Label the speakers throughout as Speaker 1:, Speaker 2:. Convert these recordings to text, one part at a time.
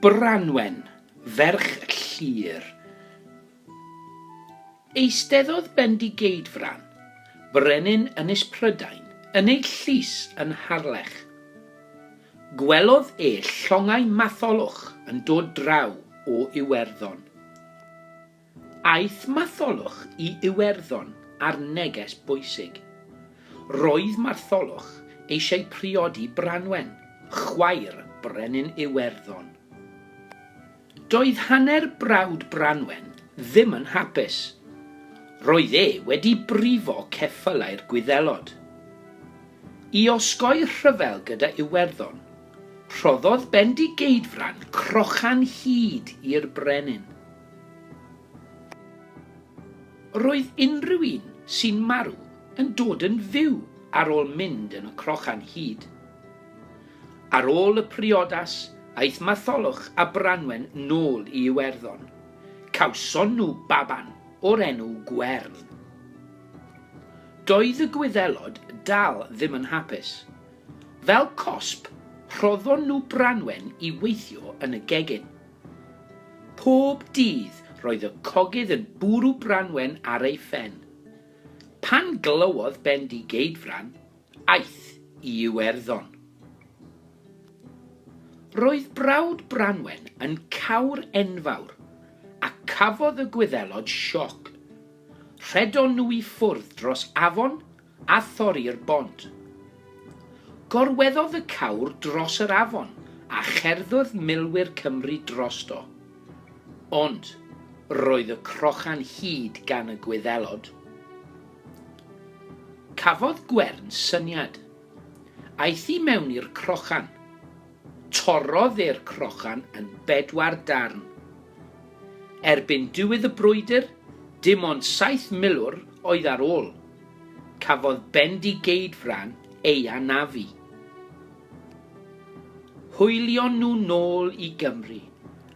Speaker 1: Branwen, ferch Llŷr. Eisteddodd Bendigeidfran, brenin Ynys Prydain, yn ei llys yn Harlech. Gwelodd e llongau Matholwch yn dod draw o Iwerddon. Aeth Matholwch i Iwerddon ar neges bwysig. Roedd Martholwch eisiau priodi Branwen, chwaer Brenin Iwerddon. Doedd hanner brawd Branwen ddim yn hapus. Roedd e wedi brifo ceffylau'r Gwyddelod. I osgoi rhyfel gyda Iwerddon, rhoddodd Bendigeidfran crochan hud i'r brenin. Roedd unrhyw un sy'n marw yn dod yn fyw ar ôl mynd yn y crochan hud. Ar ôl y priodas, aeth Matholwch a Branwen nôl i Iwerddon. Cawson nhw baban o'r enw Gwern. Doedd y Gwyddelod dal ddim yn hapus. Fel cosb, rhoddon nhw Branwen i weithio yn y gegin. Pob dydd roedd y cogydd yn bwrw Branwen ar ei phen. Pan glywodd Bendigeidfran, aeth i Iwerddon. Roedd brawd Branwen yn cawr enfawr, a cafodd y Gwyddelod sioc. Rhedon nhw i ffwrdd dros afon a thorri'r bont. Gorweddodd y cawr dros yr afon a cherddodd milwyr Cymru drosto. Ond roedd y crochan hyd gan y Gwyddelod. Cafodd Gwern syniad. Aeth i mewn i'r crochan. Torrodd e'r crochan yn bedwar darn. Erbyn diwedd y brwydr, dim ond saith milwr oedd ar ôl. Cafodd Bendigeidfran ei anafu. Hwylion nhw nôl i Gymru,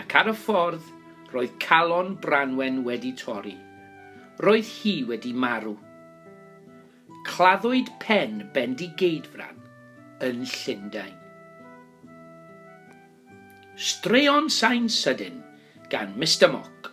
Speaker 1: ac ar y ffordd roedd calon Branwen wedi torri. Roedd hi wedi marw. Claddwyd pen Bendigeidfran yn Llundain. Straeon Sain Sydyn gan Mister Mock.